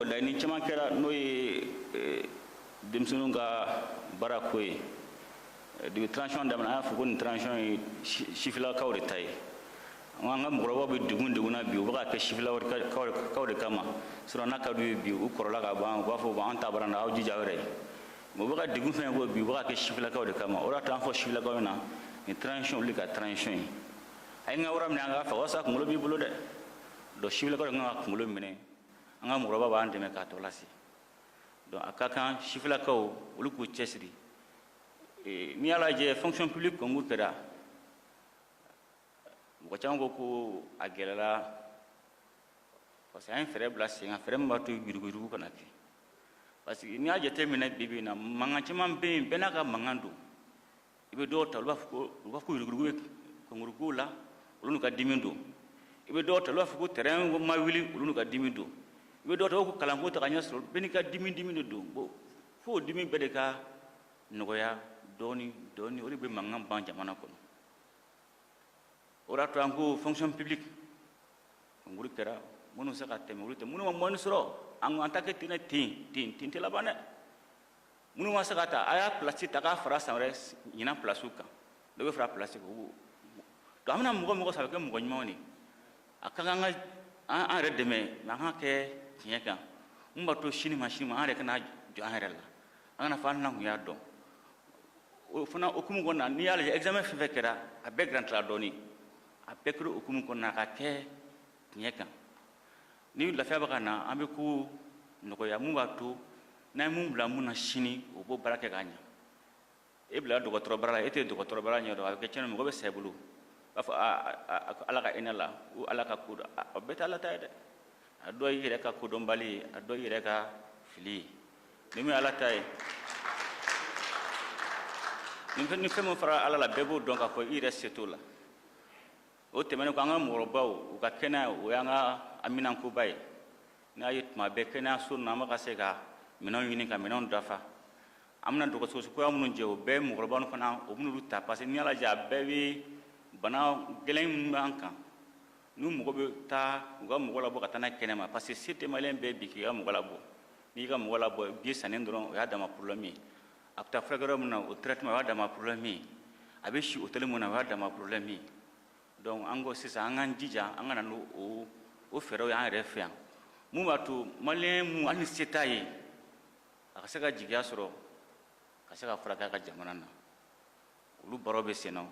laɲini caman kɛra n'o ye eh, denmisɛnninw ka baara ko ye eh, depuis transition daminɛ an y'a fɔ ko nin transition ye sifilakaw de ta ye an ka mɔgɔkɔrɔbaw bɛ degun degun na bi u bɛ ka kɛ sifilakaw de kama sinon n'a ka d'u ye bi u kɔrɔla ka ban u b'a fɔ an ta banna aw jija aw yɛrɛ ye mais u bɛ ka degun fɛn ko bi u bɛ ka kɛ sifilakaw de kama o de y'a to an fɔ sifilakaw ɲɛna nin transition olu ka transition ye a ye n ka wara minɛ an k'a faga o y'a sɔrɔ kunkolo b'i bolo dɛ donc sifilakaw de kan ka kunkolo minɛ an ka mɔgɔkɔrɔba b'an dɛmɛ k'a tɔ lase donc a ka kan sifilakaw olu k'u cɛsiri eh, n'i y'a lajɛ fonction publique concours kɛra mɔgɔ caman ko ko a gɛlɛla parce que an ye fɛɛrɛ bila sen kan fɛɛrɛ min b'a to yuruguyurugu kana kɛ parce que n'i y'a jateminɛ bi bi in na mankan caman bɛ yen bɛɛ n'a ka mankan don i bɛ dɔw ta olu b'a fɔ ko u b'a fɔ ko yuruguyurugu bɛ concours kow la olu n'u ka dimi don i bɛ dɔw ta olu b'a fɔ ko train ma wuli olu n'u ka dimi don i bɛ dɔw ta ko kalanko tɛ ka ɲɛ sɔrɔ bɛɛ n'i ka dimi dimi de don bon fo o dimi bɛɛ de ka nɔgɔya dɔɔni dɔɔni o de bɛ mankan ban jamana kɔnɔ o de y'a to an ko fonction publique concours kɛra minnu se ka tɛmɛ olu ta minnu ma moyenne sɔrɔ an ko an t'a kɛ ten ten ten ten tɛ laban dɛ minnu ma se ka ta a y'a place ta k'a fara san wɛrɛ ɲinan placew kan dɔ bɛ fara place kan o donc an bɛna mɔgɔ mɔgɔ sɔrɔ a bɛ kɛ mɔgɔ ɲumanw de a ka kan ka an yɛrɛ dɛmɛ mais an ka kɛ tiɲɛ kan mun b'a to sini ma sini ma an yɛrɛ kana jɔ an yɛrɛ la an kana fɔ an n'an tun y'a dɔn o fana hukumu kɔnɔna n'i y'a lajɛ examen fɛn fɛn kɛra a bɛɛ garantira dɔɔni a bɛɛ kɛra hukumu kɔnɔna ka kɛ tiɲɛ kan ni lafiya bɛ ka na an bɛ ko nɔgɔya mun b'a to n'an ye mun bila mun na sini o b'o baara kɛ k'a ɲɛ e bila dɔgɔtɔrɔ baara la e tɛ dɔgɔtɔrɔ baara ɲɛ dɔn a bɛ kɛ tiɲɛni mɔgɔ bɛ sa i bolo b'a fɔ ala ka hinɛ a la o ala ka ko don a bɛɛ tɛ ala ta ye dɛ a dɔ y'i yɛrɛ ka kodɔnbali ye a dɔ y'i yɛrɛ ka fili ye ni min ye ala ta ye ni fɛn min fara ala la bɛɛ b'o dɔn k'a fɔ i yɛrɛ se t'o la o tɛmɛnen kɔ an ka mɔgɔkɔrɔbaw u ka kɛnɛya o y'an ka haminankoba ye n'a ye tuma bɛɛ kɛnɛyaso ninnu an bɛ ka se ka minɛnw ɲini ka minɛnw dafa an bɛna dɔgɔtɔrɔso kura minnu jɔ o bɛɛ mɔgɔkɔrɔbaw ninnu fana o bɛna olu ta parce que n'i y'a lajɛ a bɛɛ bɛ bana gɛlɛn minnu b'an kan ni mɔgɔ bɛ taa u ka mɔgɔ labɔ ka taa n'a ye kɛnɛma parce que se tɛ maliyɛn bɛɛ bi k'i ka mɔgɔ labɔ n'i y'i ka mɔgɔ labɔ billet sannen dɔrɔn o y'a dama problème ye a bɛ taa furakɛ yɔrɔ min na o traitement o y'a dama problème ye a bɛ si hôtel min na o y'a dama problème ye donc an ko sisan an k'an jija an ka na n'o o o fɛɛrɛw ye an yɛrɛ fɛ yan mun b'a to maliyɛn mun hali ni se t'a ye a ka se ka jigiya sɔrɔ ka se ka furakɛ a ka jamana na olu baaraw bɛ sen na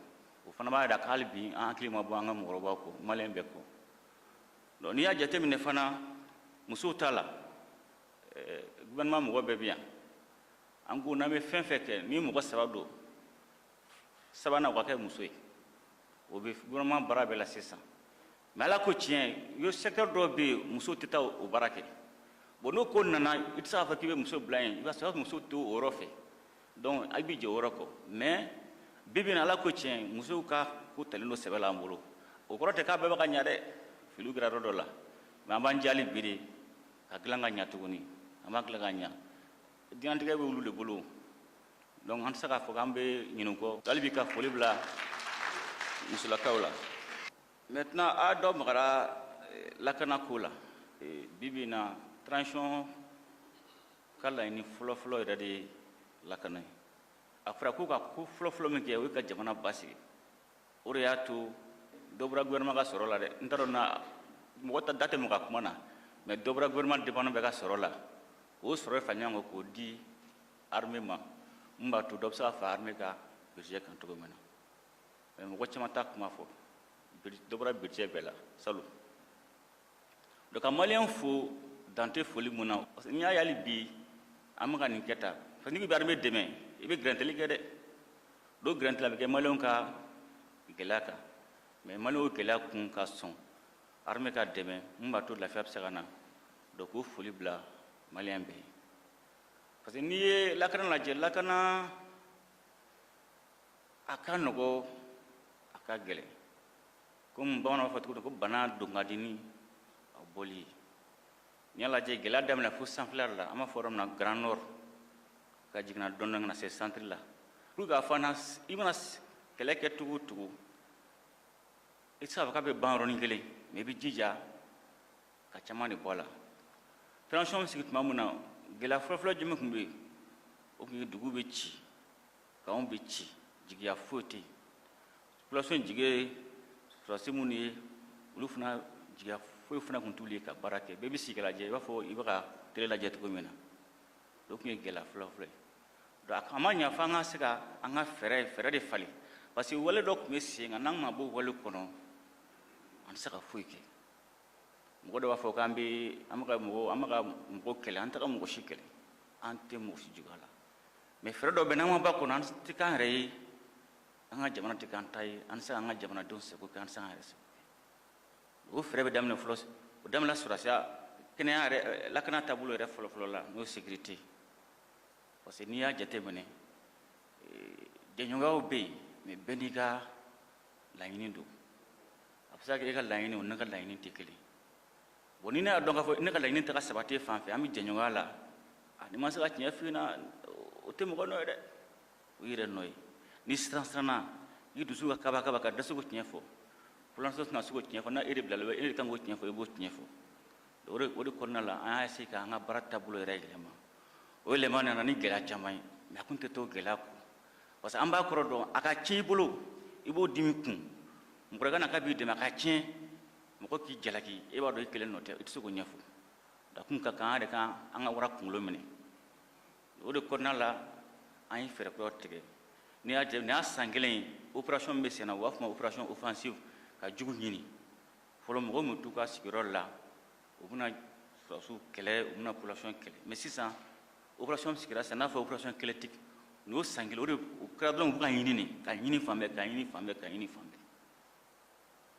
o fana b'a jira k'hali bi an hakili ma bɔ an ka mɔgɔkɔrɔbaw kɔ maliyɛn bɛɛ kɔ donc n'i y'a jateminɛ fana musow ta la eh, gouvernement mɔgɔ bɛɛ bɛ yan an ko n'an bɛ fɛn fɛn kɛ ni mɔgɔ saba don sabanan o ka kɛ muso ye o bɛ gouvernement baara bɛɛ la sisan mais ala ko tiɲɛ yo secteur dɔw bɛ yen muso tɛ taa o baara kɛ bon n'o ko nana i tɛ se k'a fɔ k'i bɛ muso bila yen i b'a sɔrɔ muso t'o yɔrɔ fɛ donc a b'i jɔ o yɔrɔ kɔ mais bi bi in na ala ko tiɲɛ musow ka ko talen don sɛbɛ la an bolo o kɔrɔ tɛ k'a bɛɛ bɛ ka ɲa dɛ filiw kɛra yɔrɔ dɔ la mais an b'an ja hali bi de k'a dilan ka ɲa tuguni an b'a dilan ka ɲa diɲɛnatigɛ bɛ olu de bolo donc an tɛ se k'a fɔ k'an bɛ ɲinɛ u kɔ hali bi ka foli bila musolakaw la maintenant a dɔ magara eh, lakana ko la eh, bi bi in na transition ka laɲini fɔlɔfɔlɔ yɛrɛ de ye lakana ye a fɔra ko ka ko fɔlɔfɔlɔ min kɛ o ye ka jamana basigi o de y'a to dɔ bɔra gouvernement ka sɔrɔ la dɛ n t'a dɔn na mɔgɔ ta da tɛ mɔgɔ ka kuma na mais dɔ bɔra gouvernement département bɛɛ ka sɔrɔ la o sɔrɔ fara ɲɔgɔn kan k'o di armée ma min b'a to dɔ bɛ se ka fara armée ka budget kan cogo min na mais mɔgɔ caman t'a kuma fɔ dɔ bɔra budget bɛɛ la salon donc ka maliyɛn fo dan tɛ foli mun na parce que n'i y'a ye hali bi an bɛ ka nin kɛ tan parce que n'i bɛ armée dɛmɛ i bɛ gɛrɛntɛli kɛ dɛ donc gɛrɛntɛli a bɛ kɛ maliyɛnw ka gɛlɛya kan mais maliyɛnw y'o gɛlɛya kun ka sɔn armée ka dɛmɛ min b'a to lafiya bɛ se ka na donc k'o foli bila maliyɛn bɛɛ ye parce que n'i ye lakana lajɛ lakana a ka nɔgɔ a ka gɛlɛn komi bamananw b'a fɔ cogo min ko bana don ka di ni a bɔli ye n'i y'a lajɛ gɛlɛya daminɛ fo sanfɛla la an b'a fɔ yɔrɔ min na grand nord ka jiginna dɔɔni dɔɔni ka na se centre la pour k'a fɔ i mana kɛlɛ kɛ cogo o cogo i tɛ se k'a fɔ k'a bɛ ban yɔrɔnin kelen mais i b'i jija ka caman de bɔ a la transition bɛ sigi tuma min na gɛlɛya fɔlɔfɔlɔ jumɛn tun bɛ yen o tun ye dugu bɛ ci kanw bɛ ci jigiya foyi tɛ yen population jigi ye sɔrɔdasi minnu ye olu fana jigiya foyi fana tun t'olu ye ka baara kɛ bɛɛ bɛ sigi k'a lajɛ i b'a fɔ i bɛ ka tele lajɛ cogo min na o tun ye gɛlɛya fɔlɔfɔlɔ ye donc a ma ɲa fo an ka se ka an ka fɛɛrɛ fɛɛrɛ de falen parce que wale dɔ tun bɛ sen kan n'an ma bɔ wale kɔnɔ an tɛ se ka foyi kɛ mɔgɔ dɔ b'a fɔ k'an bɛ an bɛ ka mɔgɔ an bɛ ka mɔgɔ kɛlɛ an tɛ ka mɔgɔ si kɛlɛ an tɛ mɔgɔ si juguya la mais fɛɛrɛ dɔ bɛ n'an ma b'a kɔnɔ an tɛ k'an yɛrɛ ye an ka jamana tɛ k'an ta ye an tɛ se k'an ka jamanadenw sago kɛ an tɛ se k'an yɛrɛ sago o fɛɛrɛ bɛ daminɛ fɔlɔ o daminɛ sɔrɔdasiya kɛnɛya yɛrɛ eh, lakana taabolo yɛrɛ fɔlɔfɔlɔ la n'o ye sécurité parce que n'i y'a jateminɛ eh, jɛɲɔgɔnw bɛ yen mais bɛɛ n'i ka laɲini don a bɛ se ka kɛ e ka laɲini o ne ka laɲini tɛ kelen bon ni ne y'a dɔn k'a fɔ ne ka laɲini tɛ ka sabati fan fɛ an bɛ jɛɲɔgɔnya la n'i ma se ka tiɲɛ f'i ɲɛna o tɛ mɔgɔ nɔ ye dɛ o y'i yɛrɛ nɔ ye n'i siran siranna i dusu ka kaba kaba ka dɛsɛ k'o tiɲɛ fɔ population tɛna se k'o tiɲɛ fɔ n'a e de bilala e de kan k'o tiɲɛ fɔ i b'o tiɲɛ fɔ o de o de kɔnɔna la an y'a essayer k'an ka baara taabolo yɛrɛ yɛlɛma o yɛlɛma nana ni gɛlɛya caman ye mais a tun tɛ t'o gɛlɛya kɔ parce que an b'a kɔrɔ dɔn a ka tiɲɛ i bolo i b'o dimi kun mɔgɔ ka na k'a b'i dɛmɛ a ka tiɲɛ mɔgɔ k'i jalaki e b'a dɔn i kelen nɔ tɛ i tɛ se k'o ɲɛfɔ da kun ka kan de kan an ka wara kunkolo minɛ o de kɔnɔna la an ye fɛɛrɛ kura tigɛ n'i y'a jɛ nin y'a san kelen ye opération min bɛ senna u b'a fɔ o ma opération offensive ka jugu ɲini fɔlɔ mɔgɔw tun t'u ka sigiyɔrɔ la u bɛna sɔrɔdasiw kɛlɛ u bɛna population kɛlɛ mais sisan opération sigira sisan n'a fɔ opération kɛlɛtigi nin y'o san kelen o de o kɛra dɔrɔn u bɛ ka ɲini de ka ɲini fan bɛɛ ka ɲini fan bɛɛ ka ɲini fan bɛɛ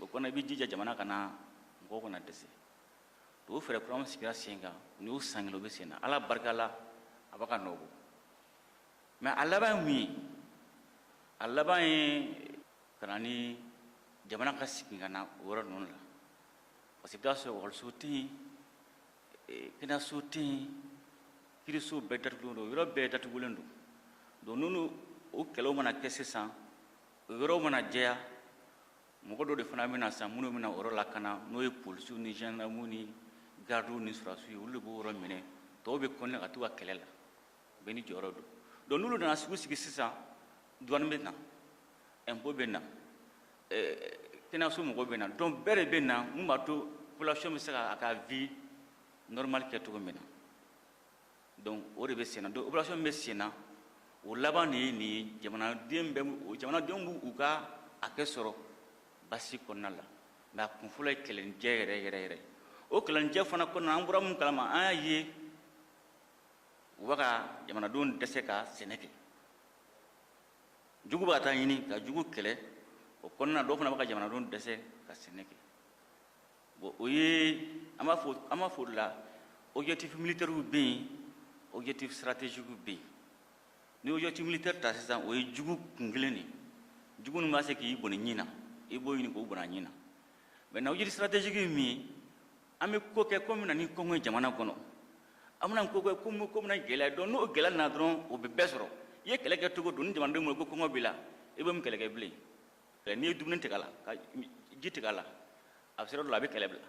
o kɔnɔ i bɛ jija jamana kana mɔgɔw kana dɛsɛ o fɛɛrɛ kura min sigira sen kan nin y'o san kelen o bɛ sen na ala barika la a b'a ka nɔ bɔ mais a laban ye mun ye a laban ye ka na ni jamana ka sigi ka na o yɔrɔ ninnu la parce que i bɛ taa sɔrɔ ekɔliso tɛ yen kɛnɛyaso tɛ yen kiiriso bɛɛ datugulen don yɔrɔ bɛɛ datugulen don donc n'olu o kɛlɛw mana kɛ sisan o yɔrɔ mana jɛya mɔgɔ dɔ de fana bɛna sisan minnu bɛna yɔrɔ lakana n'o ye polisiw ni gendarmew ni gardiw ni sɔrɔdasiw ye olu de b'o yɔrɔ minɛ tɔw bɛ continuer ka t'u ka kɛlɛ la bɛɛ n'i jɔyɔrɔ don donc n'olu nana sugu sigi sisan duwani bɛ na impôt bɛ na kɛnɛyaso mɔgɔw bɛ na donc bɛɛ de bɛ na mun b'a to population bɛ se ka a ka vie normale kɛ cogo min na donc o de bɛ senna donc opération min bɛ senna o laban de ye nin ye jamanaden bɛ jamanadenw b'u u ka hakɛ sɔrɔ basigi kɔnɔna la mais a kun fɔlɔ ye kɛlɛnijɛ yɛrɛ yɛrɛ yɛrɛ o kɛlɛnijɛ fana kɔnɔna an bɔra mun kalama an y'a ye u bɛ ka jamanadenw dɛsɛ ka sɛnɛ kɛ jugu bɛ ka taa ɲini ka jugu kɛlɛ o kɔnɔna dɔw fana bɛ ka jamanadenw dɛsɛ ka sɛnɛ kɛ bon o ye an b'a fɔ an b'a fɔ o de la objectif militaire bɛ yen objectif stratégique bɛ yen n'i objectif militaire ta sisan o ye jugu kun kelen de ye jugu min bɛ se k'i bɔnɛ ɲin na i b'o ɲini k'o bɔnɛ a ɲin na maintenant objectif stratégique ye min ye an bɛ ko kɛ ko min na ni kɔngɔ ye jamana kɔnɔ an bɛna ko kɛ ko min ko bɛna gɛlɛya don n'o gɛlɛya nana dɔrɔn o bɛ bɛɛ sɔrɔ i ye kɛlɛ kɛ cogo don ni jamanadenw bolo ko kɔngɔ b'i la i bɛ mun kɛlɛ kɛ bilen n'i ye dumuni tigɛ a la ka ji tigɛ a la a bɛ se yɔrɔ dɔ la a bɛ kɛlɛ bila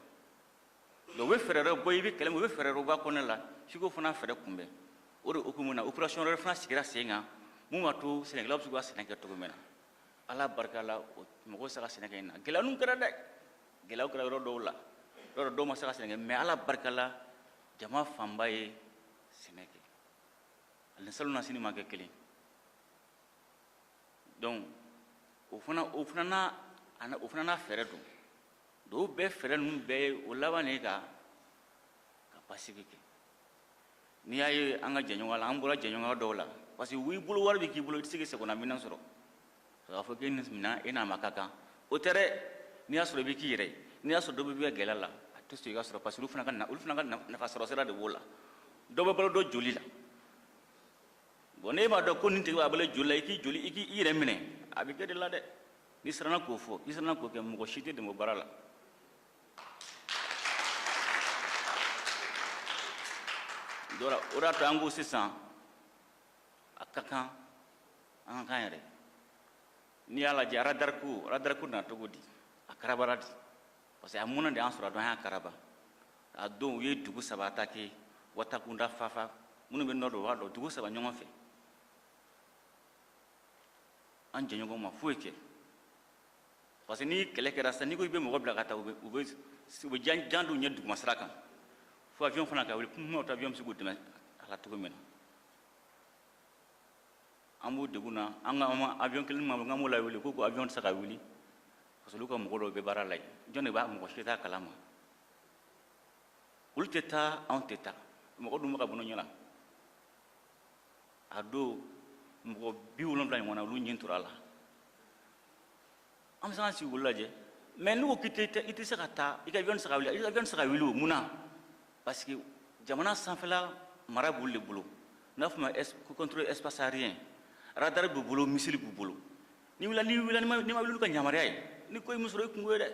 donc u bɛ fɛɛrɛ dɔ bɔ i bɛ kɛlɛ min u bɛ fɛɛrɛ dɔ bɔ a kɔnɔna la f'i k'o fana fɛɛrɛ kunbɛn o de hukumu na opération wɛrɛ fana sigira sen kan min b'a to sɛnɛkɛlaw bɛ se k'u ka sɛnɛ kɛ cogo min na ala barika la mɔgɔw sera ka sɛnɛ kɛ ɲinan gɛlɛyaninw kɛra dɛ gɛlɛyaw kɛra yɔrɔ dɔw la yɔrɔ dɔw ma se ka sɛnɛ kɛ mais ala barika la jama fanba ye sɛnɛ kɛ a ni salonnasini ma kɛ kelen donc o fana o fana o fana n'a fɛɛrɛ don donc o bɛɛ fɛɛrɛ ninnu bɛɛ ye o laban de ye ka basigi kɛ n'i y'a ye an ka jɛɲɔgɔnya la an bɔra jɛɲɔgɔnya dɔw la parce que i bolo wari bɛ k'i bolo i tɛ se k'i sagona minɛn sɔrɔ k'a fɔ k'e minɛn e n'a man ka kan o tɛ dɛ n'i y'a sɔrɔ i bɛ k'i yɛrɛ ye n'i y'a sɔrɔ dɔ bɛ bɔ i ka gɛlɛya la a tɛ sɔn i k'a sɔrɔ parce que olu fana ka olu fana ka nafa sɔrɔ sira de b'o la dɔ bɛ balo dɔ joli la bon n'e m'a dɔn ko nin tigi bɛ balo i joli la i k'i joli i k'i yɛrɛ minɛ a bɛ k'e de la dɛ n'i siranna k'o fɔ n'i siranna k'o kɛ mɔgɔ si t'i dɛmɛ o baara la dɛ o de y'a to an ko sisan a ka kan an ka k'an yɛrɛ n'i y'a lajɛ radar ko radar ko nana cogo di a karabara de parce que a mɔnɛ de y'an sɔrɔ a don an y'a karaba a don u ye dugu saba attaquer watakunda fafa minnu bɛ nord dɔn b'a dɔn dugu saba ɲɔgɔn fɛ an jɛɲɔgɔn ma foyi kɛ parce que ni kɛlɛ kɛra sisan n'i ko i bɛ mɔgɔ bila ka taa u bɛ u bɛ u bɛ jan jan da u ɲɛ duguma sira kan fo avion fana ka wuli kununaw ta avion bɛ se k'u dɛmɛ a la cogo min na an b'u degun na an ka an ma avion kelen ma k'an b'o lawuli k'u ko avion tɛ se ka wuli parce que olu ka mɔgɔ dɔw bɛ baara la yen jɔn de b'a mɔgɔ si t'a kalama olu tɛ taa anw tɛ taa mɔgɔ dun bɛ ka bɔnɛ u ɲin na a don mɔgɔ bi wolonfila ɲɔgɔnna olu ɲin tora a la an bɛ se ka sigi k'olu lajɛ mais n'u ko k'i tɛ i tɛ se ka taa i ka avion tɛ se ka wuli i ka avion tɛ se ka wuli o mun na parce que jamana sanfɛla mara b'olu de bolo n'a fɔ ma contrôle espace aérien radar b'u bolo missile b'u bolo n'i wulila n'i wulila n'i ma n'i ma wuli ka yamaruya ye ni ko ye min sɔrɔ i kunko ye dɛ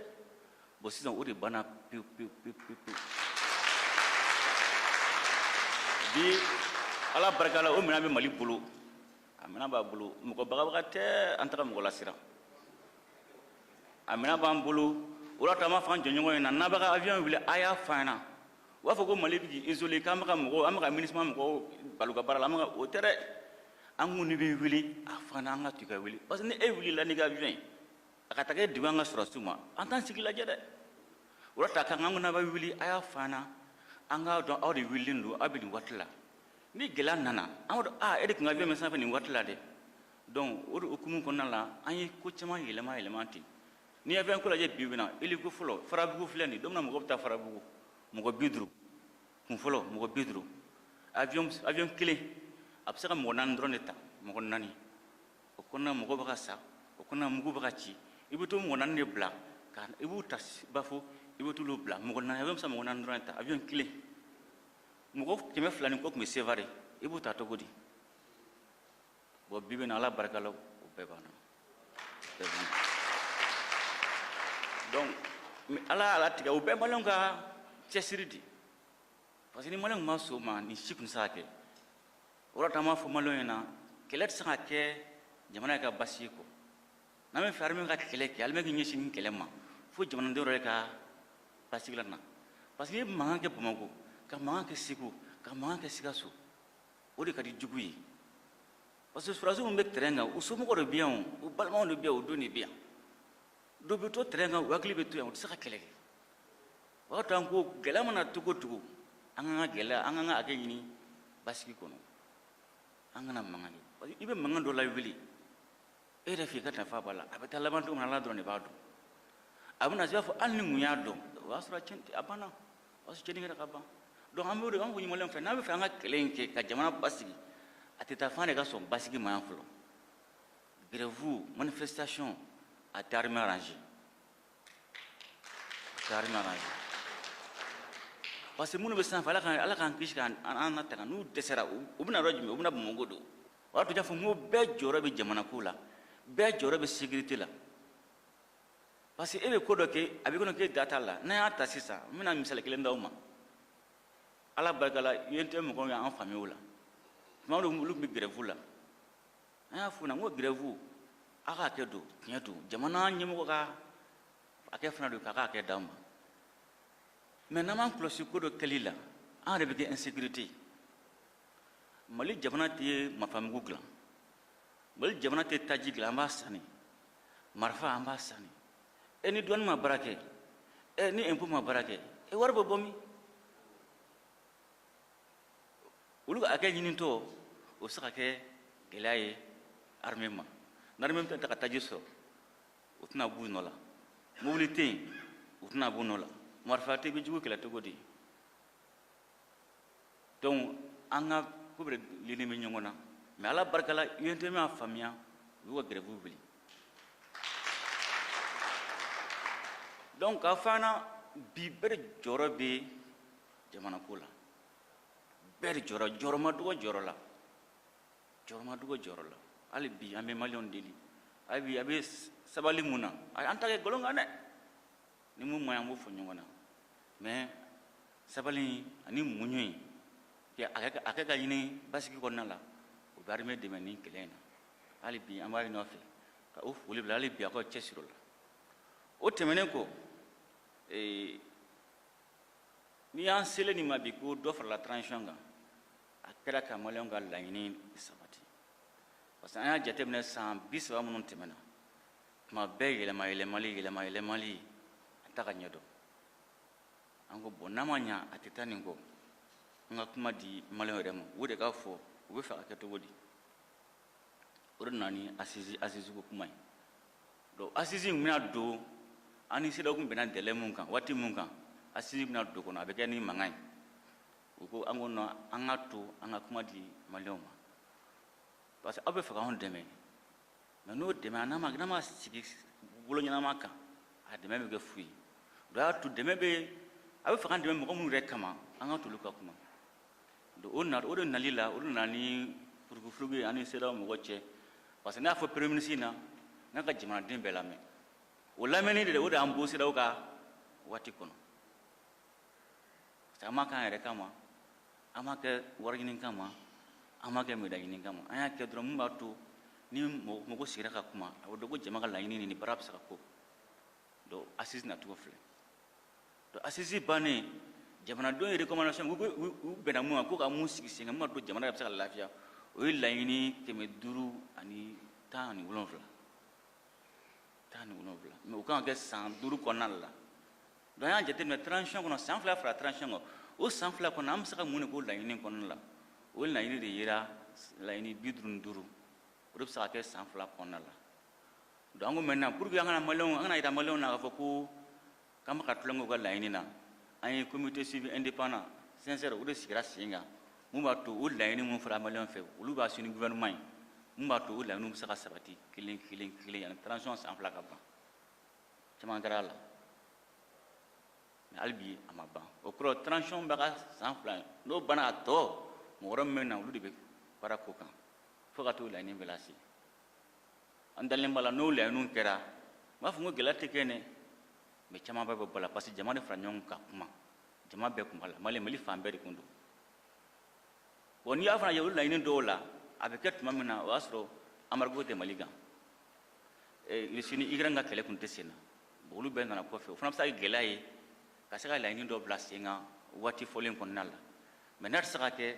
bɔn sisan o de banna pewu pewu pewu pewu pewu bi ala barika la o minɛn bɛ mali bolo a minɛn b'a bolo mɔgɔ bagabaga tɛ an tɛ ka mɔgɔ lasiran a minɛn b'an bolo o la an b'a f'an jɛɲɔgɔnw ɲɛna n'a bɛ ka avion wuli a y'a fɔ an ɲɛna u b'a fɔ ko mali bɛ k'i isoler k'an bɛ ka mɔgɔw an bɛ ka minusima mɔgɔw bali u ka baara la an bɛ ka o tɛ dɛ an ko n'i bɛ wuli a f'an na an ka to ka wuli parce que ni e wulila n'i ka avion ye a ka taga e degu an ka sɔrɔdasiw ma an t'an sigi lajɛ dɛ o de la an ko n'a bɛ wuli a y'a fɔ an na an k'a dɔn aw de wulilen don aw bɛ nin waati la ni gɛlɛya nana an b'a dɔn aa e de tun ka avion bɛ sanfɛ nin waati la dɛ donc o de hukumu kɔnɔna la an ye ko caman yɛlɛma yɛlɛma ten n'i ye avion ko lajɛ bi bi in na hélico fɔlɔ farabugu filɛ nin don min na mɔgɔ bɛ taa farabugu mɔgɔ bi duuru kun fɔlɔ mɔgɔ bi duuru avion avion kelen a bɛ se ka mɔgɔ naani dɔrɔn de ta mɔgɔ naani o kɔnɔna mɔgɔ bɛ ka sa o kɔnɔna mugu bɛ ka ci i bɛ t'o mɔgɔ naani de bila ka i b'u ta bafo i bɛ t'olu bila mɔgɔ naani avion bɛ se ka mɔgɔ naani dɔrɔn de ta avion kelen mɔgɔ kɛmɛ fila ni kɔ tun bɛ sevare i b'u ta cogo di bɔn bi bi in na ala barika la o bɛɛ banna donc ala y'a latigɛ o bɛɛ maliyɛnw ka cɛsiri di parce que ni maliyɛnw ma sɔn a ma nin si kun tɛ se ka kɛ o de la an b'a fɔ maliyɛnw ɲɛna kɛlɛ tɛ se ka kɛ jamana ka basigi kɔ n'an b'a fɛ armée ka kɛlɛ kɛ armée k'i ɲɛsin nin kɛlɛ ma fo jamanaden yɛrɛ ka basigi la na parce que i ye mankan kɛ bamakɔ ka mankan kɛ segu ka mankan kɛ sikaso o de ka di jugu ye parce que sɔrɔdasiw minnu bɛ terɛn kan u somɔgɔ de bɛ yan u balimaw de bɛ yan u denw de bɛ yan donc u bɛ to terɛn kan u hakili bɛ to yan u tɛ se ka kɛlɛ kɛ o y'a to an ko gɛlɛya mana cogo o cogo an ka kan ka gɛlɛya an ka kan ka hakɛ ɲini basigi kɔnɔ an kana mankan kɛ parce que i bɛ mankan dɔ lawuli e yɛrɛ f'i ka nafa b'a la a bɛ taa laban don min na ala dɔrɔn de b'a dɔn a bɛna se i b'a fɔ hali ni n tun y'a dɔn o y'a sɔrɔ a cɛnna a banna parce que cɛnni kɛra ka ban donc an b'o de an b'o ɲini maliyɛnw fɛ n'a b'a fɛ an ka kɛlɛ in kɛ ka jamana basigi a tɛ taa f'an de ka sɔn basigi ma yan fɔlɔ grève manifestation a tɛ armée arranger a tɛ armée arranger parce que minnu bɛ sanfɛ ala k'an ala k'an kisi k'an latanga n'u dɛsɛra u bɛna yɔrɔ jumɛn u bɛna bamakɔ don o y'a to n y'a fɔ n ko bɛɛ jɔyɔrɔ bɛ jamanako la bɛɛ jɔyɔrɔ bɛ sécurité la parce que e bɛ ko dɔ kɛ a b'i kɔnɔ k'e da t'a la n'an y'a ta sisan n bɛna misali kelen d'aw ma ala barika la untm mɔgɔw y'an faamuya o la tuma dɔw olu tun bɛ gɛrɛfu la an y'a f'u na n ko gɛrɛfu a ka hakɛ don tiɲɛ don jamana ɲɛmɔgɔ ka hakɛ fana don k'a ka hakɛ d'a ma mɛ n'an m'an kɔlɔsi ko dɔ kɛli la an yɛrɛ bɛ kɛ insécurité mali jamana tɛ marifamugu dilan mali jamana tɛ taji dilan an b'a sanni marifa an b'a sanni e ni douane ma baara kɛ e ni impôt ma baara kɛ e wari bɛ bɔ min olu ka hakɛ ɲinitɔ o bɛ se ka kɛ gɛlɛya ye armée ma ni armée tɛ ta ka taji sɔrɔ u tɛna b'u nɔ la mobili tɛ yen u tɛna b'u nɔ la marifa tɛ i bɛ jugu kɛlɛ cogo di donc an ka ko bɛɛ lini bɛ ɲɔgɔn na mais ala barika la UNTM y'a faamuya u y'u ka grève wuli donc k'a fɔ an na bi bɛɛ de jɔyɔrɔ bɛ jamanako la bɛɛ de jɔyɔrɔ jɔyɔrɔ ma dɔgɔ jɔyɔrɔ la jɔyɔrɔ ma dɔgɔ jɔyɔrɔ la hali bi an bɛ maliyɛnw deli hali bi a bɛ sabali mun na an t'a kɛ nkalon kan dɛ ni mun man ɲi an b'o fɔ ɲɔgɔn na mais sabali in ani muɲu in hakɛ ka ɲini basigi kɔnɔna la o bɛ armée dɛmɛ ni kɛlɛ in na hali bi an b'a ɲini aw fɛ ka o foli bila hali bi aw ka cɛsiri o la o tɛmɛnen kɔ ee, n'i y'an selen nin ma bi ko dɔ farala transition kan a kɛra ka maliyɛnw ka laɲini sabati parce que an y'a jateminɛ san bi saba minnu tɛmɛna tuma bɛɛ yɛlɛma yɛlɛmali yɛlɛma yɛlɛmali a tɛ ka ɲɛ donc an ko bon n'a ma ɲa a tɛ taa nin kɔ an ka kuma di maliyɛnw yɛrɛ ma o de k'a fɔ u bɛ fɛ ka kɛ cogo di o de nana ni assise assise ko kuma ye donc assise in bɛna don an ni CEDEAO kun bɛnna délai mun kan waati mun kan assise bɛna don kɔnɔ a bɛ kɛ ni mankan ye u ko an ko non an ka to an ka kuma di maliyɛnw ma parce que aw bɛ fɛ k'anw dɛmɛ mais n'o dɛmɛ a n'a ma n'a ma sigi bolo ɲɛnama kan a dɛmɛ bɛ kɛ fu ye o y'a to dɛmɛ bɛ a bɛ fɛ k'an dɛmɛ mɔgɔ minnu yɛrɛ kama an ka t'olu ka kuma donc o na o de nali la o de nana ni furugufurugu ye an ni CEDEAO mɔgɔ cɛ parce que ne y'a fɔ premier ministre na n'a ka jamanaden bɛɛ lamɛn o lamɛnni de o de y'an bɔ CEDEAO ka waati kɔnɔ parce que an m'a k'an yɛrɛ kama an m'a kɛ wari ɲini kama an m'a kɛ médaille ɲini kama an y'a kɛ dɔrɔn min b'a to ni mɔgɔ sigira ka kuma a bɛ dɔn ko jama ka laɲini nin baara bɛ se ka ko donc assise nacogo filɛ donc assise bannen jamanadenw ye recommandation u bɛnna mun kan ko ka mun sigi sen kan mun b'a to jamana yɛrɛ bɛ se ka lafiya o ye laɲini kɛmɛ duuru ani tan ani wolonwula tan ni wolonwula mais o kan ka kɛ san duuru kɔnɔna de la donc an y'a jateminɛ transition kɔnɔ san fila fara transition kan o san fila kɔnɔ an bɛ se ka mun de k'o laɲini kɔnɔna la o laɲini de yera laɲini bi duuru ni duuru o de bɛ se ka kɛ san fila kɔnɔna la donc an ko maintenant pour que an kana maliyɛnw an kana yira maliyɛnw na k'a fɔ ko k'an bɛ ka tulon kɛ u ka laɲini na an ye comité suivi indépendant CINSERE o de sigira sen kan mun b'a to o laɲini minnu fɔra maliyɛnw fɛ olu b'a sini gouvernement ye mun b'a to o laɲiniw bɛ se ka sabati kelen kelen kelen yanni transition san fila ka ban caman kɛra a la mais hali bi a ma ban o kɔrɔ transition bɛ ka san fila n'o banna a tɔ mɔgɔ wɛrɛ min bɛ na olu de bɛ baara k'o kan fo ka t'o laɲini bɛɛ lase an dalen b'a la n'o laɲiniw kɛra n m'a fɔ ko gɛlɛya tɛ kɛ dɛ mais caman bɛɛ bɛ bɔ a la parce que jama de fara ɲɔgɔn kan ka kuma jama bɛɛ kun b'a la mali mali fan bɛɛ de kun don bon n'i y'a fana ye olu laɲini dɔw la a bɛ kɛ tuma min na o y'a sɔrɔ embargo tɛ mali kan Russie ni Ukraine ka kɛlɛ kun tɛ sen na bon olu bɛɛ nana kɔfɛ o fana bɛ se ka kɛ gɛlɛya ye ka se ka laɲini dɔ bila sen kan waati fɔlen kɔnɔna la mais n'a tɛ se ka kɛ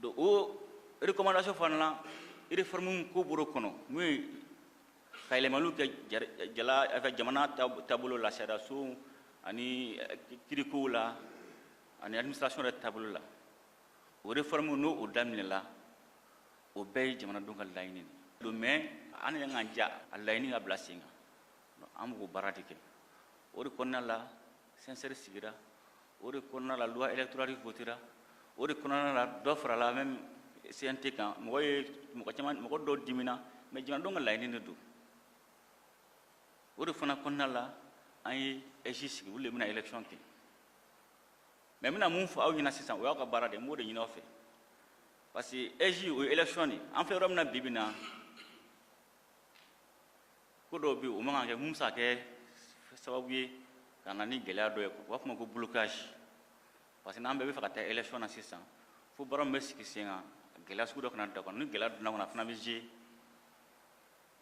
donc o recommandation fana la réforme ko bɔr'o kɔnɔ mun ye ka yɛlɛmaliw kɛ jala jamana taabolo la sariyaso ani eh, kirikow la ani administration yɛrɛ taabolo la o réforme n'o o daminɛla o bɛɛ ye jamanadenw ka laɲini de don mais an yɛrɛ k'an ja a laɲini ka bila sen kan an b'o baara de kɛ o de kɔnɔna la CINSERE sigira o de kɔnɔna la loi électorale votera o de kɔnɔna la dɔ farala même CNT kan mɔgɔ ye mɔgɔ caman mɔgɔ dɔw dimina mais jamanadenw ka laɲini de don o de fana kɔnɔna la an ye AIGE sigi olu de bɛna élection kɛ mais n bɛna mun fɔ aw ɲɛna sisan o y'aw ka baara de ye n b'o de ɲini aw fɛ parce que AIGE o ye élection de ye an filɛ yɔrɔ min na bi bi na ko dɔw bɛ yen o man kan ka kɛ mun bɛ se ka kɛ sababu ye ka na ni gɛlɛya dɔ ye u b'a fɔ o ma ko blocage parce que n'an bɛɛ b'a fɛ ka taa élection na sisan fo baara min bɛ sigi sen kan gɛlɛya sugu dɔ kana d'a kɔnɔ ni gɛlɛya donn'a kɔnɔ a fana bɛ jouer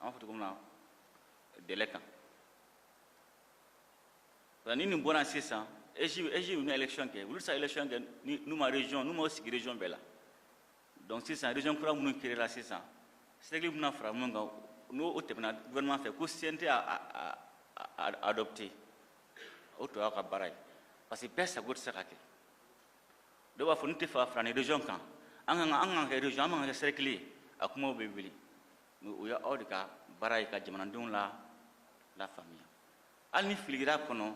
an b'a fɔ cogo min na délai kan ni nin bɔra sisan AIGE AIGE bɛna élection kɛ olu tɛ se ka élection kɛ n'u ma région n'u ma sigi région bɛɛ la donc sisan région kura minnu créera sisan cercle bɛna fara minnu kan n'o o tɛmɛna gouvernement fɛ ko CNT y'a adopté o tɔ y'aw ka baara ye parce que bɛɛ sago tɛ se ka kɛ dɔw b'a fɔ ne tɛ fɛ ka fara nin région kan an kan ka an kan ka kɛ région an man kan ka kɛ cercle ye a kumaw bɛ wuli mais o ye aw de ka baara ye ka jamanadenw la lafaamuya hali ni fili kɛr'a kɔnɔ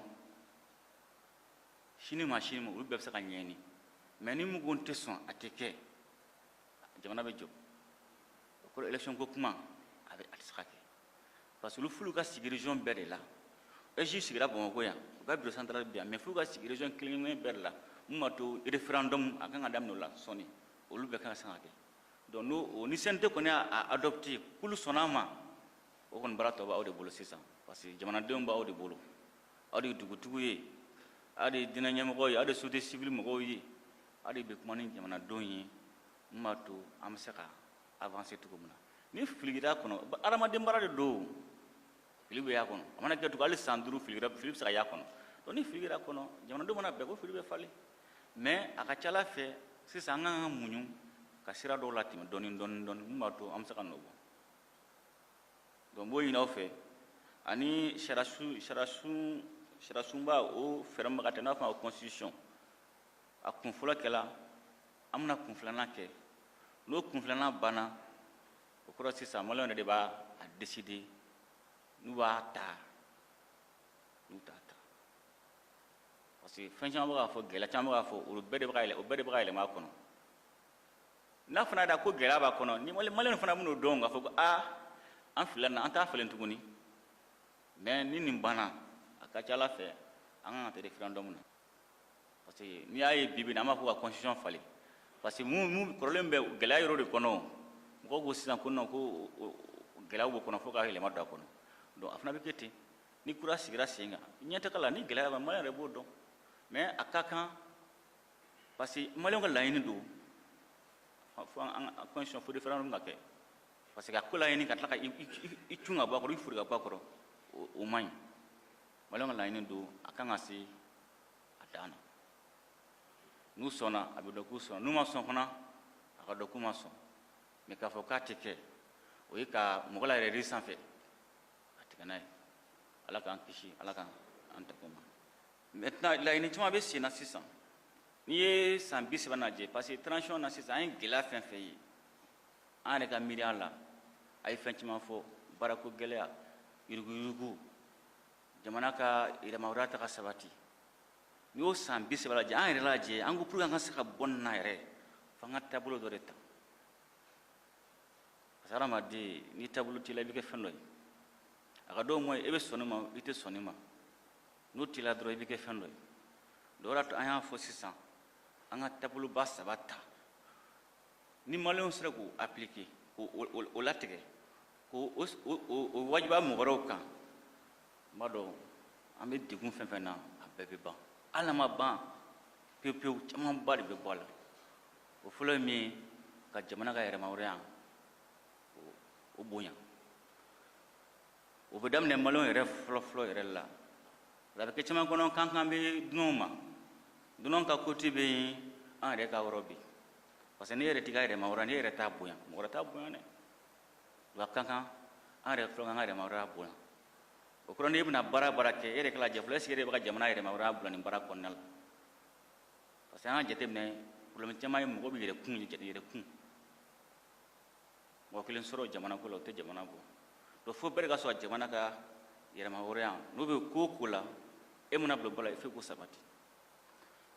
sini ma sini ma olu bɛɛ bɛ se ka ɲɛɲini mais ni mɔgɔ tɛ sɔn a tɛ kɛ jamana bɛ jɔ o kɔrɔ élection ko kuma a bɛ a tɛ se ka kɛ parce que olu f'olu ka sigi région bɛɛ de la AIGE sigira bamakɔ yan u ka bureau central bɛ yan mais f'olu ka sigi région kelen kelen bɛɛ de la mun b'a to référendum a kan ka daminɛ o la sɔɔni olu bɛɛ kan ka se ka kɛ donc n'o o ni CNT kɔni y'a adopté k'olu sɔnna a ma o kɔni baara tɔ b'aw de bolo sisan parce que jamanadenw b'aw de bolo aw de ye dugutigiw ye aw de ye diinɛ ɲɛmɔgɔw ye aw de ye société civile mɔgɔw ye aw de bɛ kuma ni jamanadenw ye min b'a to an bɛ se ka avancer cogo min na ni fili kɛra kɔnɔ adamaden baara de don fili bɛ y'a kɔnɔ a mana kɛ cogo hali san duuru fili kɛra fili bɛ se ka y'a kɔnɔ donc ni fili kɛra kɔnɔ jamanadenw mana bɛn ko fili bɛ falen mais a ka ca ala fɛ sisan an ka kan ka muɲu ka sira dɔw latɛmɛ dɔɔni dɔɔni dɔɔni min b'a to an bɛ se ka nɔ bɔ donc n b'o ɲini aw fɛ ani sariyasun sariyasun sariyasunba o fɛɛrɛ min bɛ ka tigɛ n'u b'a fɔ a ma ko constitution a kun fɔlɔ kɛla an bɛna kun filanan kɛ n'o kun filanan banna o kɔrɔ sisan maliyɛnw yɛrɛ de b'a a décider n'u b'a ta n'u t'a ta parce que fɛn caman bɛ ka fɔ gɛlɛya caman bɛ ka fɔ olu bɛɛ de bɛ ka yɛlɛ o bɛɛ de bɛ ka yɛlɛma a kɔnɔ n'a fana da ko gɛlɛya b'a kɔnɔ ni maliyɛnw fana bɛn'o dɔn k'a fɔ ko aa an filila nin na an t'a falen tuguni mais ni nin banna a ka ca ala fɛ an kan ka taa referendum na parce que n'i y'a ye bi bi na an b'a fɔ ka constitution falen parce que mun mun kɔrɔlen bɛ gɛlɛya yɔrɔ de kɔnɔ mɔgɔw ko sisan ko non ko gɛlɛyaw b'o kɔnɔ fo ka yɛlɛma don a kɔnɔ donc a fana bɛ kɛ ten ni kura sigira sen kan ɲɛtaga la ni gɛlɛya bɛ maliyɛn yɛrɛ b'o dɔn mais a ka kan parce que maliyɛnw ka laɲini don fo an ka constitution fo référendum ka kɛ parce que a ko laɲini ka tila ka i cun ka bɔ a kɔrɔ i fori ka bɔ a kɔrɔ o man ɲi maliyɛnw ka laɲini don a kan ka se a dan na n'u sɔnna a bɛ dɔn k'u sɔnna n'u ma sɔn fana a ka dɔn k'u ma sɔn mais k'a fɔ k'a tɛ kɛ o ye ka mɔgɔ layɛlɛ yiri sanfɛ k'a tigɛ n'a ye ala k'an kisi ala k'an tanga o ma maintenant laɲini caman bɛ sen na sisan n'i ye san bi saba lajɛ parce que transition na sisan an ye gɛlɛya fɛn fɛn ye an yɛrɛ ka miiriya la a ye fɛn caman fɔ baarako gɛlɛya yuruguyurugu jamana ka yɛrɛmahɔrɔnya tɛ ka sabati n'i y'o san bi saba lajɛ an yɛrɛ lajɛ an ko pour que an ka se ka bɔ nin na yɛrɛ f'an ka taabolo dɔ de ta parce que hadamaden ni taabolo t'i la i bɛ kɛ fɛn dɔ ye a ka dɔn mɔ i bɛ sɔn nin ma i tɛ sɔn nin ma n'o t'i la dɔrɔn i bɛ kɛ fɛn dɔ ye donc o de y'a to an y'a fɔ sisan an ka taaboloba saba ta ni maliyɛnw sera k'o appliquer k'o latigɛ k'o wajibiya mɔgɔ wɛrɛw kan n b'a dɔn an bɛ degun fɛn fɛn na a bɛɛ bɛ ban hali n'a ma ban pewu pewu camanba de bɛ bɔ a la o fɔlɔ ye min ye ka jamana ka yɛrɛmahɔrɔnya o bonya o bɛ daminɛ maliyɛn yɛrɛ fɔlɔfɔlɔ yɛrɛ la a bɛ kɛ caman kɔnɔ k'an kan bɛ dunanw ma dunanw ka côté bɛ yen an yɛrɛ ka yɔrɔ bɛ yen parce que n'e yɛrɛ t'i ka yɛrɛmahɔrɔnya n'e yɛrɛ t'a bonya mɔgɔ wɛrɛ t'a bonya dɛ wa a ka kan an yɛrɛ fɔlɔ k'an ka yɛrɛmahɔrɔnya bonya o kɔrɔ n'e bɛna baara baara kɛ e yɛrɛ k'a lajɛ fɔlɔ est-ce que e yɛrɛ bɛ ka jamana yɛrɛmahɔrɔnya bila nin baara kɔnɔna la parce que an ka jateminɛ problème caman ye mɔgɔ bɛ yɛrɛ kun yɛrɛ kun mɔgɔ kelen sɔrɔ jamana ko la o tɛ jamana bɔ donc fo bɛɛ de ka sɔrɔ jamana ka yɛrɛmahɔrɔnya n'o bɛ ko o ko la e mana bolo b'a la fo k'o sabati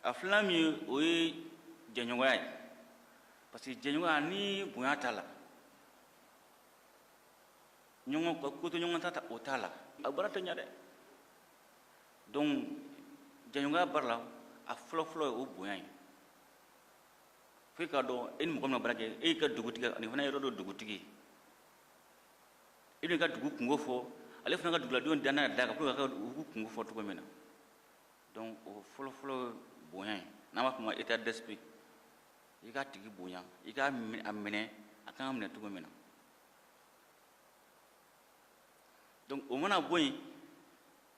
a filanan min ye o ye jɛɲɔgɔnya ye parce que jɛɲɔgɔnya ni bonya t'a la ɲɔgɔn ka ko to ɲɔgɔn ta o t'a la a baara tɛ ɲa dɛ donc jɛɲɔgɔnya baara la a fɔlɔfɔlɔ ye o bonya ye fo i k'a dɔn e ni mɔgɔ min na baara kɛ e y'i ka dugutigi ale fana ye yɔrɔ dɔ dugutigi e b'i ka dugu kunko fɔ ale fana ka duguladenw danna d'a kan pour que a ka dugu kunko fɔ cogo min na donc o fɔlɔfɔlɔ bonya ye n'an b'a fɔ o ma état d'esprit i k'a tigi bonya i k'a minɛ a kan ka minɛ cogo min na donc o mana bɔ yen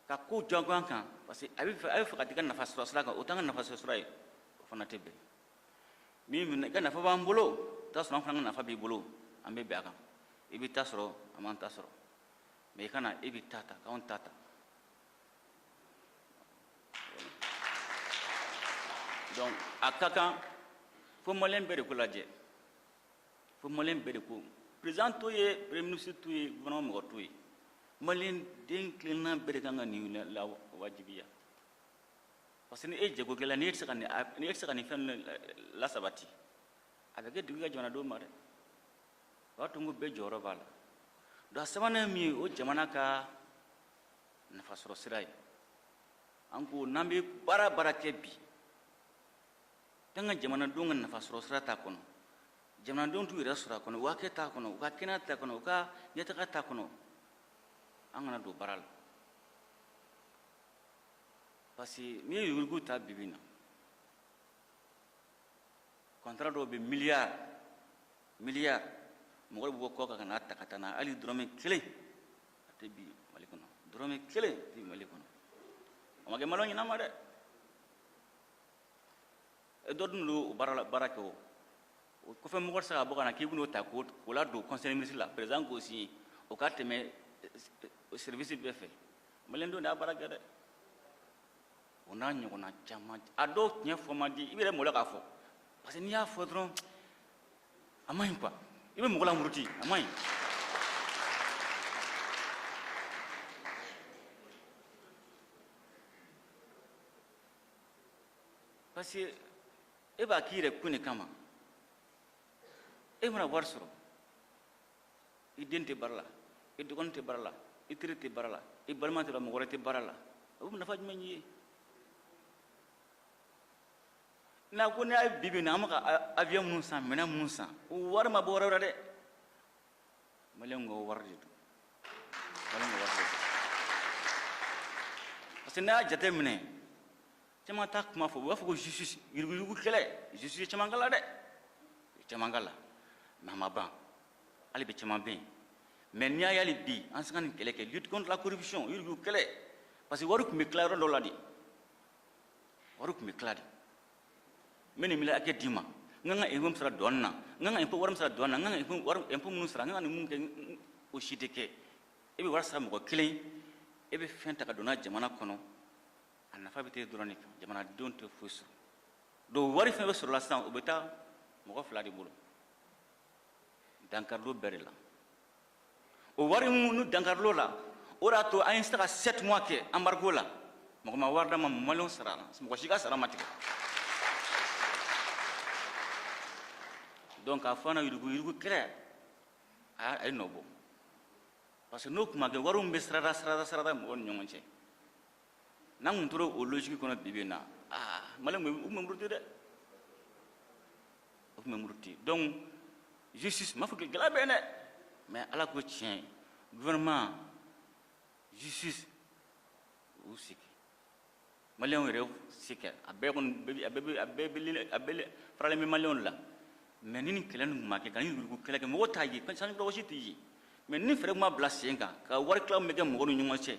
ka ko jagoya kan parce que a bɛ fɛ a bɛ fɛ ka t'i ka nafa sɔrɔ sira kan o t'an ka nafa sɔrɔ sira ye o fana tɛ bɛn min minɛ i ka nafa b'an bolo i t'a sɔrɔ an fana ka nafa b'i bolo an bɛ bɛn a kan i b'i ta sɔrɔ an b'an ta sɔrɔ mais i kana e b'i ta ta k'anw ta ta donc a ka kan fo maliyɛn bɛɛ de k'o lajɛ fo maliyɛn bɛɛ de ko président t'o ye premier ministre t'o ye gouvernement mɔgɔ t'o ye maliyɛn den kelenna bɛɛ de kan ka nin lawajibiya parce que ni e ye jagokɛla ni e tɛ se ka nin ni e tɛ se ka nin fɛn ninnu lasabati a bɛ kɛ dugu ka jamanadenw ma dɛ o b'a to n ko bɛɛ jɔyɔrɔ b'a la donc a sabanan min ye o jamana ka nafasɔrɔ sira ye an ko n'an bɛ baara baara kɛ bi an ka jamanadenw ka nafasɔrɔsira t'a kɔnɔ jamanadenw t'u yɛrɛ sɔrɔ a kɔnɔ u ka kɛ t'a kɔnɔ u ka kɛnɛya t'a kɔnɔ u ka ɲɛtaga t'a kɔnɔ an kana don baara la parce que n'i ye yuruguyurugu ta bi bi na contrat dɔw bɛ miliyari miliyari mɔgɔ bɛ bɔ kɔkan ka n'a ta ka taa n'a hali dɔrɔmɛ kelen a tɛ bin mali kɔnɔ dɔrɔmɛ kelen a tɛ bin mali kɔnɔ a ma kɛ malo ɲɛnama dɛ eh, dɔ dun don o baara la baara kɛ o o kɔfɛ mɔgɔ tɛ se ka bɔ ka na k'i bɛn'o ta k'o k'o ladon conseil ministre la président k'o signé o ka tɛmɛ eh, eh, service bɛɛ fɛ maliyɛn dɔ de y'a baara kɛ dɛ o n'a ɲɔgɔnna caman a dɔw ɲɛfɔ man di i yɛrɛ malo k'a fɔ parce que n'i y'a fɔ dɔrɔn a man ɲi quoi i bɛ mɔgɔ lamuruti a man ɲi. parce que e b'a k'i yɛrɛ kun de kama e mana wari sɔrɔ i den tɛ baara la i dɔgɔnin tɛ baara la i teri tɛ baara la i balima tɛ baara mɔgɔ wɛrɛ tɛ baara la o bɛ nafa jumɛn ɲ'i ye n'a ko n'a ye bi bi in na an bɛ ka avion minnu san minɛn minnu san o wari ma bɔ yɔrɔ wɛrɛ dɛ maliyɛnw ka wari de don maliyɛnw ka wari de don parce que n'a y'a jate minɛ caman t'a kuma fɔ u b'a fɔ ko justice yuruguyurugu kɛlɛ justice caman kɛla dɛ caman kɛla mais a ma ban hali bi caman bɛ yen mais n'i y'a ye hali bi an se ka nin kɛlɛ kɛ lutte contre la corruption yuruguyurugu kɛlɛ parce que wari tun bɛ tila yɔrɔ dɔ la de wari tun bɛ tila de n bɛ nin milliard hakɛ d'i ma n ka n ka impôt sara douane na n ka n ka impôt wari min sara douane na n ka n ka impôt wari impôt minnu sara n ka n ka nin minnu kɛ o si tɛ kɛ e bɛ wari sara mɔgɔ kelen e bɛ fɛn ta ka don n'a jamana kɔnɔ a nafa bɛ t'e dɔrɔn de kan jamanadenw tɛ foyi sɔrɔ donc wari fɛn bɛɛ sɔrɔla sisan o bɛ taa mɔgɔ fila de bolo dankari don bɛɛ de la o wari minnu dankari lɔla o de y'a to an ye se ka sept mois kɛ embargo la mɔgɔ ma wari d'an ma maliyɛnw sarala mɔgɔ si ka sara ma tigɛ donc k'a fɔ an na yuruguyurugu kɛlɛ a ye nɔ bɔ parce que n'o tun ma kɛ wari tun bɛ sirada sirada sirada mɔgɔw ni ɲɔgɔn cɛ n'an tun tora o logique kɔnɔ bi bi in na aa maliyɛnw tun bɛ muruti dɛ u tun bɛ muruti donc justice ma fɔ k'i gɛlɛya bɛ yen dɛ mais ala ko tiɲɛ gouvernement justice u se kɛ maliyɛnw yɛrɛ se kɛ a bɛɛ kɔni a bɛɛ a bɛɛ a bɛɛ faralen bɛ maliyɛnw la mais ni nin kɛlɛ nin tun ma kɛ ka nin yurugu kɛlɛ kɛ mɔgɔ t'a ye sanni kɔlɔsi t'i ye mais ni fɛɛrɛ tun ma bila sen kan ka wari tilaw bɛ kɛ mɔgɔw ni ɲɔgɔn cɛ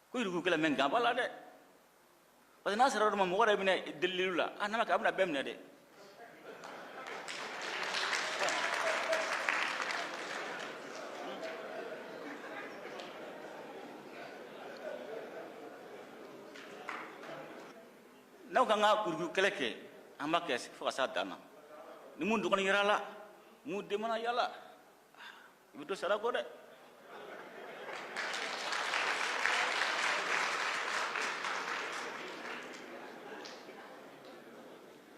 ko yurugu kɛlɛ mais nka b'a la dɛ parce que n'a sera yɔrɔ ma mɔgɔ yɛrɛ bɛna delililu la a nana kɛ a bɛna bɛɛ minɛ dɛ n'aw ka kan ka yurugu kɛlɛ kɛ an b'a kɛ fo ka s'a dan na ni min dɔgɔnin yer'a la min den mana y'a la i bɛ to sara kɔ dɛ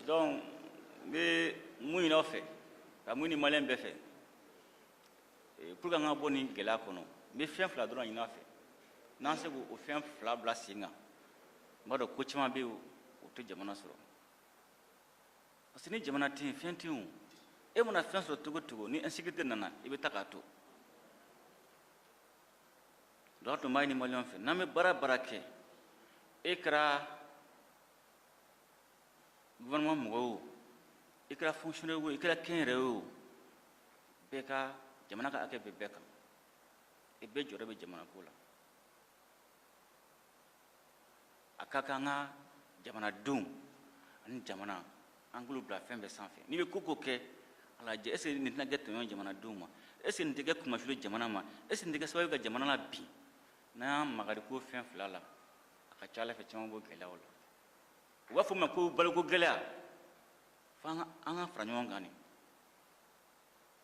donc n bɛ mun ɲini aw fɛ ka mun ɲini maliyɛn bɛɛ fɛ eh, pour que an ka bɔ nin gɛlɛya kɔnɔ n bɛ fɛn fila dɔrɔn ɲini aw fɛ n'an se k'o fɛn fila bila sen kan n b'a dɔn ko caman bɛ yen o tɛ jamana sɔrɔ parce que ni jamana tɛ yen fɛn tɛ yen e mana fɛn sɔrɔ cogo cogo ni insécurité nana i bɛ taa k'a to donc an tun b'a ɲini maliyɛn fɛ n'an bɛ baara baara kɛ e kɛra gouvernement mɔgɔ o i kɛra fonctionnaire o i kɛra kɛnyɛrɛye o bɛɛ ka jamana ka hakɛ bɛ bɛɛ kan i bɛɛ jɔyɔrɔ bɛ jamanako la a ka kan an ka jamanadenw ani jamana an k'olu bila fɛn bɛɛ sanfɛ n'i bɛ ko ko kɛ a lajɛ est ce que nin tɛna kɛ tɔɲɔ jamanadenw ma est ce que nin tɛ kɛ kunmasuuli jamana ma est ce que nin tɛ kɛ sababu ka jamana labin n'an y'an makari ko fɛn fila la a ka ca a la fɛn caman b'o gɛlɛyaw la u b'a fɔ min ma ko baloko gɛlɛya fo an ka fara ɲɔgɔn kan de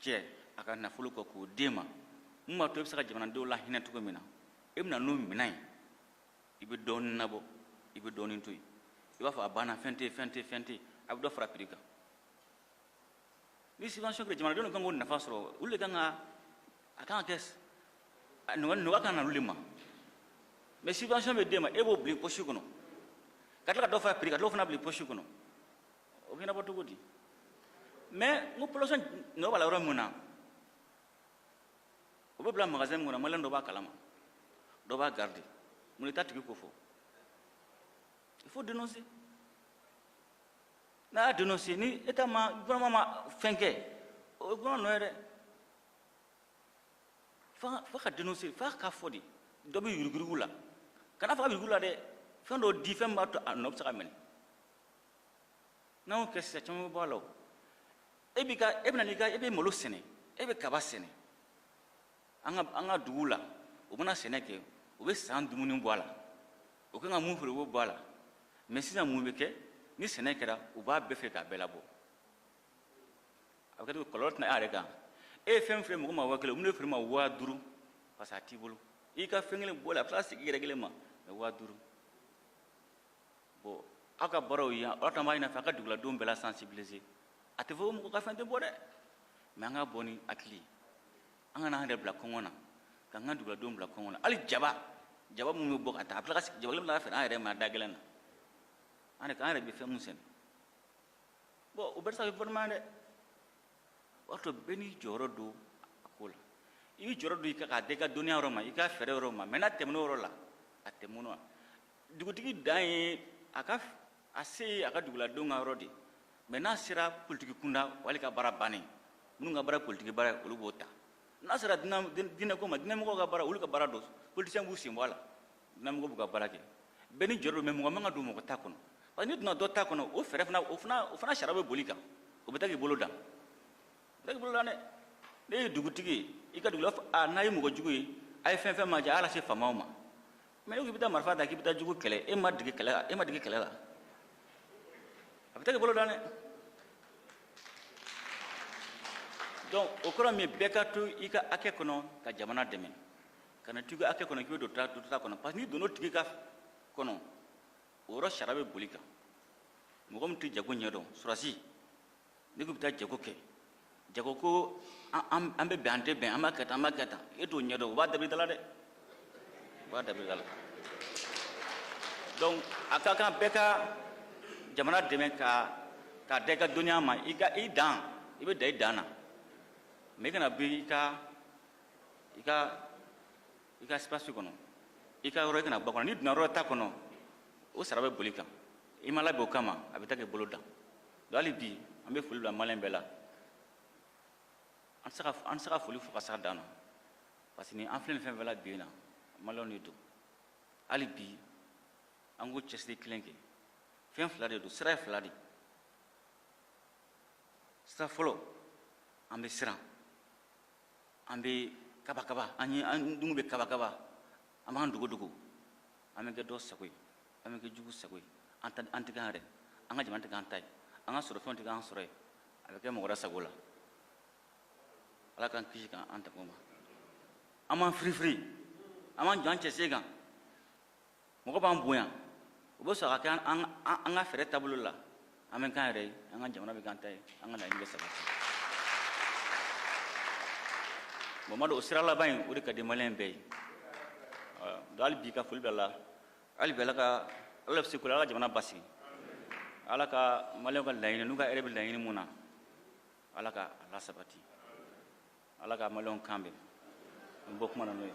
jɛ a ka nafolo kɔ k'o d'e ma mun b'a to i bɛ se ka jamanadenw lahinɛ cogo min na e bɛ na n'o minɛn ye i bɛ dɔɔnin labɔ i bɛ dɔɔnin to yen i b'a fɔ a banna fɛn tɛ fɛn tɛ fɛn tɛ a bɛ dɔ fara prix kan ni subvention kɛra jamanadenw de kan k'o nafa sɔrɔ olu de kan ka a kan ka kɛ nɔgɔya ka na olu de ma mais subvention bɛ d'e ma e b'o bila i poche kɔnɔ ka tila ka dɔ fara prix kan ka dɔ fana bila i poche kɔnɔ o bɛ ɲɛnabɔ cogo di mais n ko population nɔ b'a la yɔrɔ min na o bɛ bila magasin min kɔnɔ maliyɛn dɔ b'a kalama dɔ b'a garder mun i t'a tigi kofɔ il faut dénoncer n'a y'a dénoncer ni état ma gouvernement ma fɛn kɛ o ye gouvernement nɔ ye dɛ f'a f'a ka dénoncer f'a k'a fɔ de dɔ bɛ yuruguyurugu la kana fɔ a bɛ yuruguyurugu la dɛ fɛn dɔ di fɛn min b'a to a nɔ bɛ se ka minɛ n'an y'o kɛ sisan caman bɛ bɔ a la o e b'i ka e bɛna n'i ka e bɛ malo sɛnɛ e bɛ kaba sɛnɛ an ka an ka duguw la u bɛna sɛnɛ kɛ u bɛ san dumuni bɔ a la u kan ka min feere u b'o bɔ a la mais sisan mun bɛ kɛ ni sɛnɛ kɛra u b'a bɛɛ feere k'a bɛɛ labɔ a bɛ kɛ cogo kɔlɔlɔ tɛ na e yɛrɛ kan e ye fɛn feere mɔgɔ ma waa kelen u bɛn'a feere e ma waa duuru parce que a t'i bolo i ka fɛn kelen bɔ a la a bɛ tila ka segin i yɛrɛ kelen ma mais waa duuru bon aw ka baaraw ye an tun b'a ɲin'a fɛ a ka duguladenw bɛɛ la sensibiliser a tɛ fɔ ko mɔgɔ ka fɛn tɛ bɔ dɛ mais an ka bɔ ni hakili ye an kana an yɛrɛ bila kɔngɔ na k'an ka duguladenw bila kɔngɔ na hali jaba jaba minnu bɛ bɔ ka taa a bɛ tila ka jaba kelen bɛ tila ka feere an yɛrɛ ma da gɛlɛn na an yɛrɛ an yɛrɛ bɛ fɛn min sɛnɛ bon o bɛɛ tɛ se ka kɛ gɔfɛrɛnaman ye dɛ o y'a to bɛɛ n'i jɔyɔrɔ don a ko la i b'i jɔyɔrɔ don i ka k'a da i ka dɔnniya yɔrɔ ma i ka fɛɛrɛ yɔrɔ ma mais n'a tɛmɛn'o yɔrɔ la a tɛmɛn'o la dugutigi dan ye a ka a se ye a ka duguladenw ka yɔrɔ de ye mais n'a sera politiki kunda wali ka baara bannen minnu ka baara politiki baara ye olu b'o ta n'a sera diinɛko ma diinɛmɔgɔw ka baara olu ka baara don politisiyɛn b'u sen bɔ a la diinɛmɔgɔw b'u ka baara kɛ bɛɛ n'i jɔyɔrɔ don mais mɔgɔ man ka don mɔgɔ ta kɔnɔ parce que n'i donna dɔ ta kɔnɔ o fɛɛrɛ fana o fana o fana sariya bɛ bol'i kan o bɛ taa k'i bolo dan o bɛ taa k'i bolo dan dɛ ne ye dugutigi ye i ka dugula a n'a ye mɔgɔ jugu ye a ye fɛn fɛn ma jɛ a y'a lase faamaw ma mais n'i k'i bɛ taa marifa ta k'i bɛ taa jugu kɛlɛ e ma dege kɛlɛ la e ma dege kɛlɛ la a bɛ taa k'i bolo dan dɛ donc o kɔrɔ min bɛɛ ka to i ka hakɛ kɔnɔ ka jamana dɛmɛ kana to i ka hakɛ kɔnɔ k'i bɛ don dɔ ta kɔnɔ parce que n'i donna o tigi ka kɔnɔ o yɔrɔ sariya bɛ bol'i kan mɔgɔ min tɛ jago ɲɛdɔn surasi n'i ko i bɛ taa jago kɛ jago ko an bɛ bɛn an tɛ bɛn an b'a kɛ tan an b'a kɛ tan e t'o ɲɛdɔn o b'a dabiri da la dɛ o b'a dabiri da la donc a ka kan bɛɛ ka jamana dɛmɛ ka k'a da i ka dɔnniya ma i ka i dan i bɛ dan i dan na mais i kana bi i ka i ka i ka espace kɔnɔ i ka yɔrɔ i kana bɔ kɔnɔ n'i donna yɔrɔ ta kɔnɔ o sariya bɛ bol'i kan i ma labɛn o kama a bɛ taa k'i bolo dan donc hali bi an bɛ foli bila maliyɛn bɛɛ la an tɛ se ka foli fo ka se a dan na parce que ni an filɛ nin fɛn fɛn la bi in na maliyɛnw de don hali bi an k'o cɛsiri kelen kɛ fɛn fila de don sira ye fila de sira fɔlɔ an bɛ siran an bɛ kabakaba an ye an denw bɛ kabakaba an b'an dogodogo an bɛ kɛ dɔ sago ye an bɛ kɛ jugu sago ye an tɛ an tɛ kɛ an yɛrɛ an ka jamana tɛ k'an ta ye an ka sɔrɔfɛnw tɛ k'an sɔrɔ ye a bɛ kɛ mɔgɔ wɛrɛ sago la ala k'an kisi ka an tanga o ma an b'an firifiri an b'an jɔ an cɛsiri kan mɔgɔ b'an bonya o bɛ sɔrɔ ka kɛ an- an an- an ka fɛɛrɛ taabolo la an bɛ k'an yɛrɛ ye an ka jamana bɛ k'an ta ye an ka laɲini bɛ sabati bon n b'a dɔn o sira laban in o de ka di maliyɛn bɛɛ ye Ɔ, donc hali bi ka foli bila la hali bi ala ka ala bɛ se ko la ala ka jamana basigi ala ka maliyɛnw ka laɲini n'u ka hɛrɛ bɛ laɲini mun na ala ka a lasabati ala ka maliyɛnw kan bɛn n bɔ kuma na n'o ye